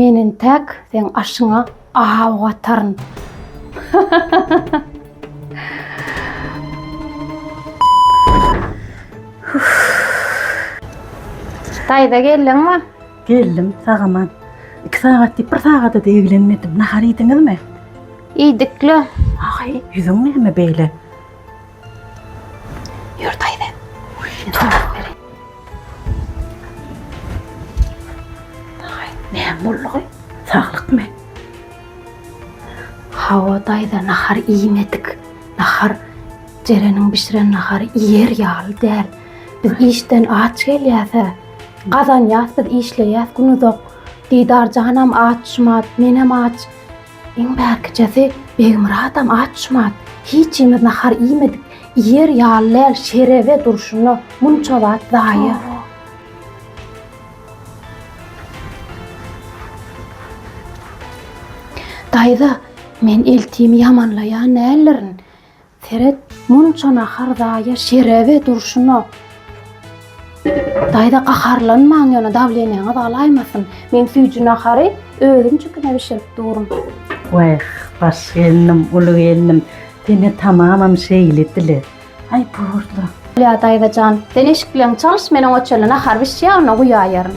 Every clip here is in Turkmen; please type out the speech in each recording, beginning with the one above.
Men entäk seň aşyňa aw ataryn. Taýza geldiňmi? Geldim, sagaman. Iki sagat diýip, bir sagada da eglenmedim. Nahar iýdiňizmi? Iýdikle. Aý, ýüzüň näme beýle? Ýör daýza. Tutup bereýin. Haý, näme boldugy? Saglykmy? Hawa daýza, nahar iýmedik. Nahar Jereniň bişiren nahary iýer ýaly däl. Biz işden aç gelýäs-ä. Gazanýas biz, işleýäs günuzak. Didarjanam aç, şumat, menem aç. Iň mäkijesi Begmyradam aç-şumat, hiç himiz nahar iýmedik, iýer ýaly däl şerebe durşuna munça zat zaýa. Daýza, men eltimi ýamanlaýan däldirin. Seret, munça nahar zaýa şerebe durşuna. Daýza gaharlanmaň ýöne dawleniýaňyz galaýmasyn. Men süýji nahary özüm jikime bişirip durun. Wah, baş gelnim, uly gelnim, sen-ä tamamam şeýle dile. Aý, bor-la. Bolýar daýza jan, sen eşikleň çalyş, men oňa çenli nahar bişýär, onda guýaýaryn.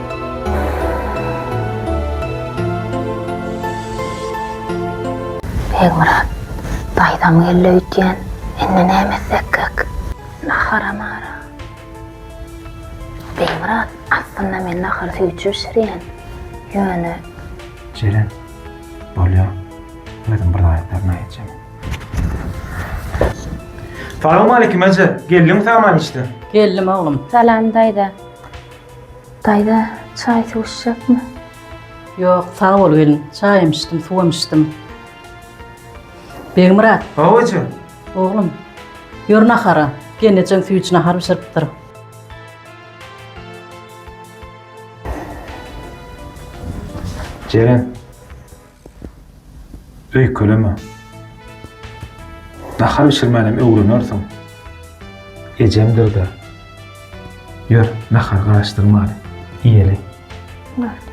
Begmyrat, daýzam geldi öýtýän, indi näme etsekkäk? Nahara mara. Begmyrat, aslynda men nahary süýtje bişirýän. Ýöne. Jeren, bolýar, özüm bir zaýatlaryny aýtjak. Salowmaleýkim eje, geldiňmi saman işden? Geldim oglum. Salam daýza. Daýza, çaý suw içjekmi? Ýok, sag bol gelin. Çaýam içdim, suwam içdim. Begmyrat. Babajan. Oglum, ýör nahara. Gelnejeň süýji nahar bişiripdir. Jeren, Öýkeleme. Nahar bişirmänem öwrenersiň. Ejemdir-dä. Ýör, nahary garaşdyrmaly, iýeli. Boldy.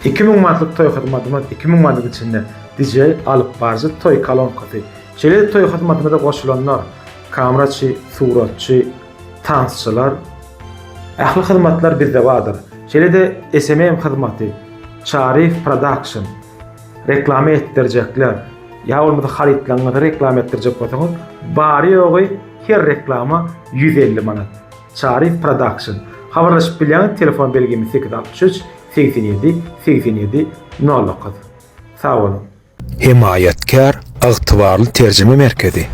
Iki müň manatlyk toý hyzmatymyz, iki müň manat içinde DJ, alypbaryjy, toý kolonkasy. Şeýle-de toý hyzmatyma-da goşulanlar, kameraçy, suratçy, Tansçylar, Ähli hyzmatlar bizde bardyr. Şeýle-de SMM hyzmaty, Çaryýew Production, reklama etdirjekler. Ýa bolmasa harytlaryňyzy reklama etdirjek bolsaňyz, bary-ýogy her reklama ýüz elli manat. Çaryýew Production. Habarlaşyp bilýäňiz, telefon belgimiz sekiz altmyş üç, segsen ýedi, segsen ýedi, nol dokuz. Sag boluň! Hemaýatkär ygtybarly terjime merkezi.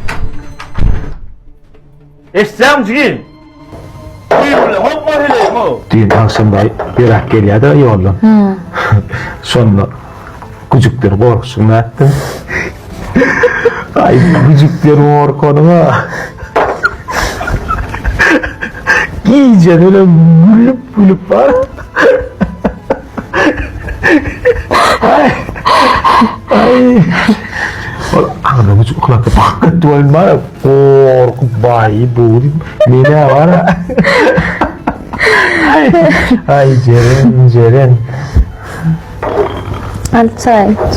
Eşitýäňmi jigim? Düýn bilen hopba heleýim-ow. Düýn agşam daýy berak gelýärdi-ä ýoldan. Şonda güjükden gorkuşygyny aýtdym. Aý, güjükden gorkanyň-a. Gije bilen gülüp-gülüp bar. Ol agzyny güjük yklap, Bak git welin bar ya, gorkup baýy bu diýip, men-ä bar ya. Aý, Jeren, Jeren. Al çaý iç.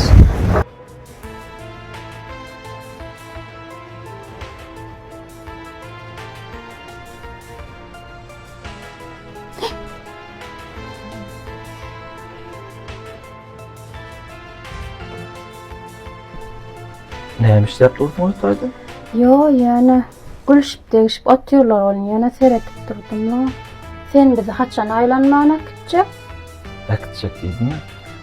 Näme işläp durdyň otagda? Yo, ýöne gülşüp degişip otyrlar ol ýöne seretip durdum. Sen bizi haçan aýlanmana gitjek? äkitjek diýdiňmi?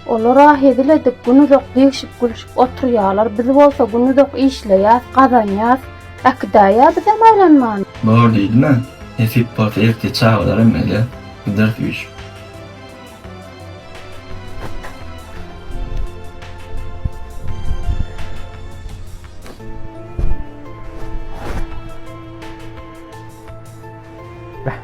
Olar-a hezil edip, günuzak degşip-gülşüp oturýarlar, biz bolsa günuzak işleýäs, gazanýas. Äkidäýýä bizem aýlanman. Bor diýdim-ä. Nesip bolsa erte çagalar hem gelýär, gideris üýşüp. Beh.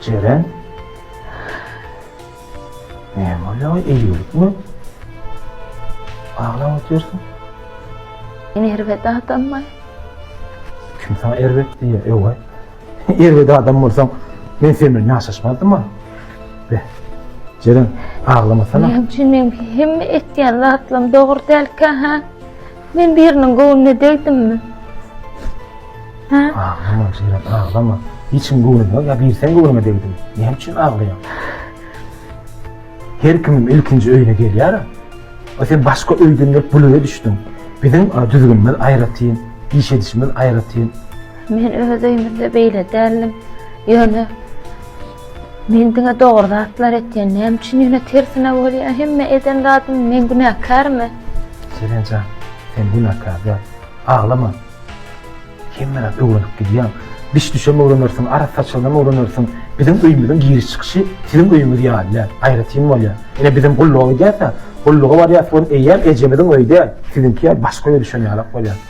Jeren? Ne bolýar? Eýgilikmi? Aglap otyrsyň? Men erbet adammy? Kim saňa erbet diýýär, ew-eý? Erbet adam bolsaň men sen bilen ýaşaşmazdym-a. Be. Jeren, aglamasana. Näme üçin meň hemme etýän zatlarym dogry dälkä, hä? Men biriniň göwnüne degdimmi? Hä? Aglama, Jeren, aglama. Hiç kim göwnüne degmez, ýa bir sen göwnüňe degdiňmi? Näme üçin aglaýaň? Her kimem ilkinji öýüne gelýär-a. A sen başga öýden gelip bul öýe düşdüň. Biziň düzgünimiz aýratyn, iş edişimiz aýratyn. Men öz öýümizde beýle däldim. Ýöne men diňe dogry zatlar etýän. Näme üçin ýöne tersine bolýar? Hemme eden zadym men günäkärmi? Seren jan, sen günäkär däl. Aglama. Hemme zat öwrenip gidýär. Biş-düşem öwrenersiň, arak saçanam öwrenersiň. Biziň öýümiziň giriş-çykyşy siziň öýüňiz ýaly däl, aýratyn bolýar. Ine bizem gulluga gidýäs-ä. Gulluga barýas welin eýýäm ejemiziň öýi däl, siziňki ýaly başga öýe düşen ýalak bolýar.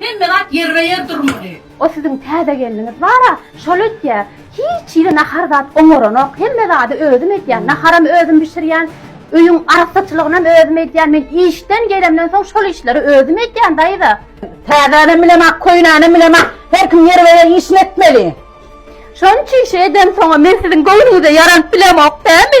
Hemme zat ýerbe-ýer durmaly. O siziň täze gelniňiz bar-a, şol etýä. Hiç hili nahar zat oňaranok. Hemme zady özüm edýän. Naharam özüm bişirýän. Öýüň arassaçylygynam özüm edýän. Men işden gelemden soň şol işleri özüm edýän, daýza. Täzänem bilemok, köýnänem bilemok. Her kim ýerbe-ýer işini etmeli. Şonça işi edemsoň-a men siziň göwnüňize ýaranyp bilemok, dämi?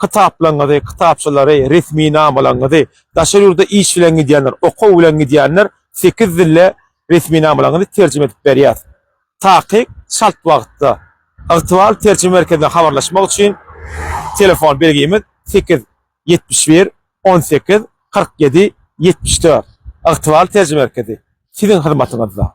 kitaplaryňyzy, kitapçalary, resminamalaryňyzy, daşary ýurda iş bilen gidýänler, okuw bilen gidýänler sekiz dilde resminamalaryňyzy terjime edip berýäs. Takyk çalt wagtda Ygtybarly terjime merkezine habarlaşmak üçin telefon belgimiz sekiz ýetmiş bir on sekiz kyrk ýedi ýetmiş dört. Ygtybarly terjime merkezi siziň hyzmatyňyzda.